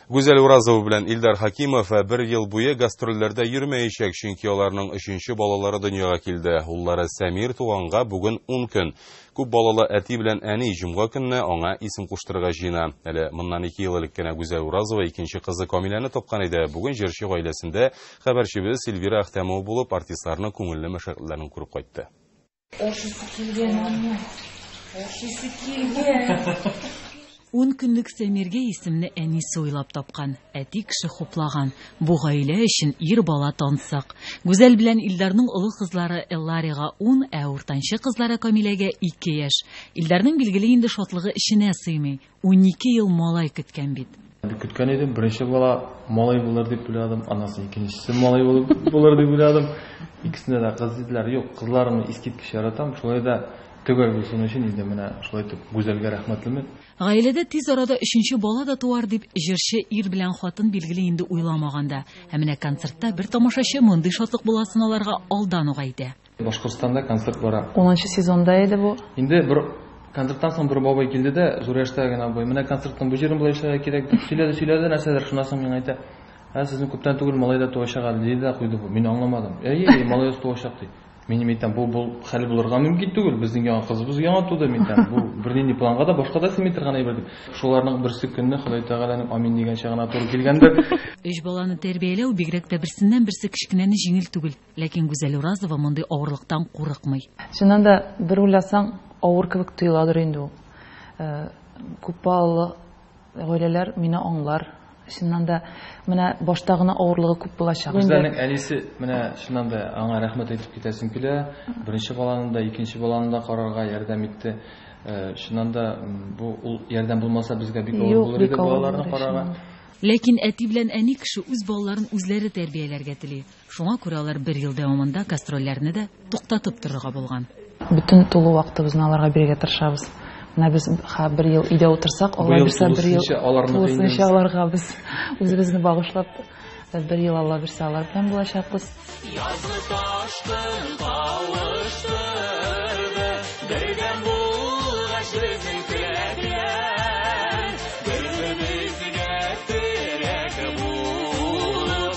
Гүзәл Уразова белән Илдар Хакимов бер ел буе гастрольләрдә йөрмәячәк, чөнки аларның өченче балалары дөньяга килде. Уллары Сәмир туганга бүген 10 көн. Күп балалы әти белән әни җомга көнне аңа исем куштырырга җыена. Әле моннан 2 ел элек кенә Гүзәл Уразова икенче кызы Камиләне тапкан иде. Бүген җырчы гаиләсендә хәбәрчебез Эльвира Әхтәмова булып, артистларның күңелле мәшәкатьләрен күреп кайтты. Ашыйсы килгән аны. Ашыйсы килгән. Ун көнлек Сәмиргә исемне әнисе уйлап тапкан. Әти кеше хуплаган. Бу гаилә өчен ир бала тансык. Гүзәл белән Илдарның олы кызлары Элларига ун, ә уртанчы кызлары Камиләгә ике яшь. Илдарның билгеле инде шатлыгы эченә сыймый. Унике ел малай көткән бит. Көткән идем, беренче бала малай булыр дип уйладым, аннан соң икенчесе малай булып булыр дип уйладым. Икесенә дә кыз диделәр. Юк, кызларны искиткеч яратам. Шулай да төгәл булсын өчен инде менә шулай итеп Гүзәлгә рәхмәтлемен. Гаиләдә тиз арада өченче бала да туар дип, җырчы ир белән хатын билгели инде уйламаганда. Ә менә концертта бер тамашачы мондый шатлык буласын аларга алдан ук әйтә. Башкортстанда концерт бара. Унынчы сезонда иде бу. Инде бер концерттан соң бер бабай килде дә, зур яшьтә генә абый, менә концертның бу җырын болай эшләргә кирәк дип сөйләде, сөйләде нәрсәдер, шуннан соң миңа әйтә, ә сезнең күптән түгел малай да туачак әле, диде дә куйды бу. Мин аңламадым. Әйе, әйе, малаебыз туачак ди. Мин әйтәм, бу бу хәл булырга мөмкин түгел, безнең яңа кызыбыз яңа туды, мин әйтәм, бу бернинди планга да башка да сыймый торган әйбер дип. Шуларның берсе көнне Ходай Тәгаләнең амин дигәнчә генә туры килгәндер. Өч баланы тәрбияләү бигрәк тә берсеннән-берсе кечкенәне җиңел түгел. Ләкин Гүзәл Уразова мондый авырлыктан курыкмый. Чыннан да, бер уйласаң, авыр кебек тоеладыр инде ул. Күпбалалы гаиләләр мине аңлар. Чыннан да, менә башта гына авырлыгы күп булачак. Гүзәлнең әнисе, менә чыннан да, аңа рәхмәт әйтеп китәсем килә. Беренче баланы да, икенче баланы да карарга ярдәм итте. Чыннан да, бу ул ярдәм булмаса, безгә бик авыр булыр иде балаларны карарга. Ләкин әти белән әни кеше үз балаларын үзләре тәрбияләргә тели. Шуңа күрә алар бер ел дәвамында гастрольләрне дә туктатып торырга булган. Бөтен тулы вакытыбызны аларга бирергә тырышабыз. Менә без ха бер ел өйдә утырсак, Алла бирсә, бер ел тулысынча аларга без үзебезне багышлап, бер ел Алла бирсә, алар белән булачакбыз. Язгы ташкын кавыштырды, бердәм булгач безнең теләкләр, бер-беребезгә терәк булып,